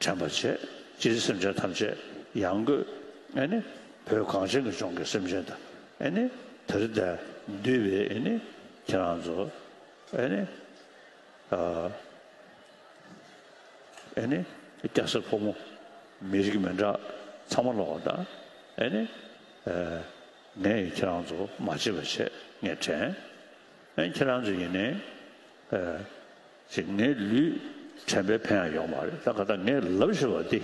དྲན་པར་བྱེད། སྤྱིར་སེམས་ཅན་ཐམས་ཅད་ཡང་སྒོས། ཨེ་ནི། བོད་གངས་ཅན་གྱི་ལྗོངས་ཀྱི་སེམས་ཅན་དང། ཨེ་ནི། དེར་བརྡལ། འདུས་པའི་ཨེ་ནི། ཁྱེད་རང་ཚོ། ཨེ་ནི། ཨ། ཨེ་ནི། སྐྱ་སེར་ཕོ་མོ། མི་རིགས་མི་འདྲ། ཚང་མ་ལོག་ལྟ། ཨེ་ནི། ཨ། ངས་ཡིན་ཁྱེད་རང་ཚོ་མ་བརྗེད་པར་བྱེད། ངས་དྲན། ཨེ་ནི། ཁྱེད་རང་ཚོ་ཡིན་ནི། ཨ། ཅིག་ངའི་ལུས་དྲན་པའི་ཕན་ཡང་ཡོང་བ་རེད་ད་ག་ད་ངས་ལབ་ཞོར་བ་འདི།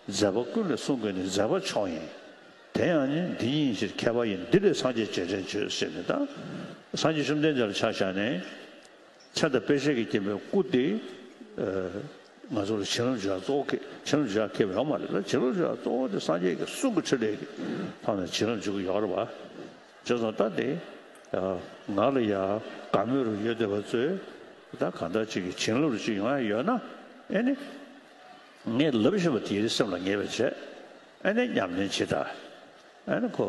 མཛད་པ་ཀུན་ལས་གསུང་དགོས་ནི་མཛད་པ་མཆོག་ཡིན། དེ་ཡང་ནི་འདི་ཉིད་ཕྱིར་མཁས་པ་ཡིན་འདི་ལས་སངས་རྒྱས་རྗེས་དྲན་བརྗོད་ཟེར་ནི་ད། སངས་རྒྱས་བཅོམ་ལྡན་འདས་ལ་ཕྱག་བཞག་ནས། མཚན་དང་དཔེ་བྱད་ཀྱི་སྐྱེས་པའི་སྐུ་འདི། ང་ཚོ་ལ་བྱིན་རླབས་བྱེད་ཡ་གཙོ་བོ་ཁྱེད་བྱིན་རླབས་བྱེད་ཡ་ཁྱེད་ཡོད་མ་རེད་ད་བྱིན་རླབས་བྱེད་ཡ་གཙོ་བོ་འདི་སངས་རྒྱས་ཀྱི་གསུང་གི་ཕྲིན་ལས་ཀྱི་ཐོག་ནས་བྱིན་རླབས་འཇུག་གི་ཡོད་རེད་བ། བྱོལ་སོང་ལྟ་སྟེ། ང་ལ་ཡང་དགའ་མོས་རུ་ཡོད་སྡེ་བ་ཚོས་ད་གང་འདྲ་ཅིག་གི་བྱིན་རླབས་རུ་ཅིག་ཡོང་ཡ་ཡོད་ན་ཨེ་ནི། ངས་ལབ་བཞིན་པ་དེའི་སེམས་ལ་ངེས་པའི་བྱས་ཨེ་ནི་སྙམ་ནས་ཇི་ལྟར་ཨེ་ནི་ཁོ།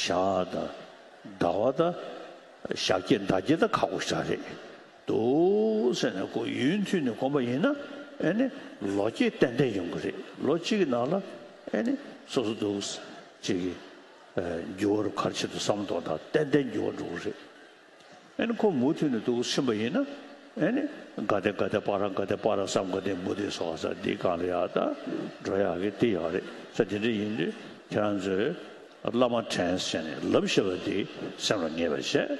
ཞག་ད་ཟླ་བ་ད་ཞག་སྐྱེས་ཟླ་སྐྱེས་ད་ཁག་པོ་ཞག་རེད། འདུག་ཟེར་ནས་གོ་ཡུན་མཐུད་ནས་གོམས་པ་ཡིན་ན་ཨེ་ནི་ལོ་རྒྱས་ཏན་ཏན་ཡོང་གི་རེད་ལོ་གཅིག་གི་ནང་ལ་ཨེ་ནི་སོ་སོ་འདུག་གཅིག་གི་འགྱུར་བ་རུ་ཁར་ཆེད་དུ་བསམ་དོག་དང་ཏན་ཏན་འགྱུར་བ་འགྲོ་གི་རེད་ཨེ་ནི་ཁོ་མུ་མཐུད་ནས་འདུག་ཕྱིན་པ་ཡིན་ན་ཨེ་ནི་དགའ་བདེ་དགའ་བདེ་པ་རང་དགའ་བདེ་པ་རང་བསམ་དགའ་བདེ་མུ་བདེ་སོ་ག་ས་འདི་གང་ལ་ཡག་ད་འགྲོ་ཡག་གི་འདི་ཡག་རེད་ས་དེ་འདྲ་ཡིན་དུས་ཁྱེད་རང་ཚོས་བླ་མ་དྲན་བྱས་ནས་ལབ་ཤེས་པ་འདི་སེམས་ལ་ངེས་པར་བྱས།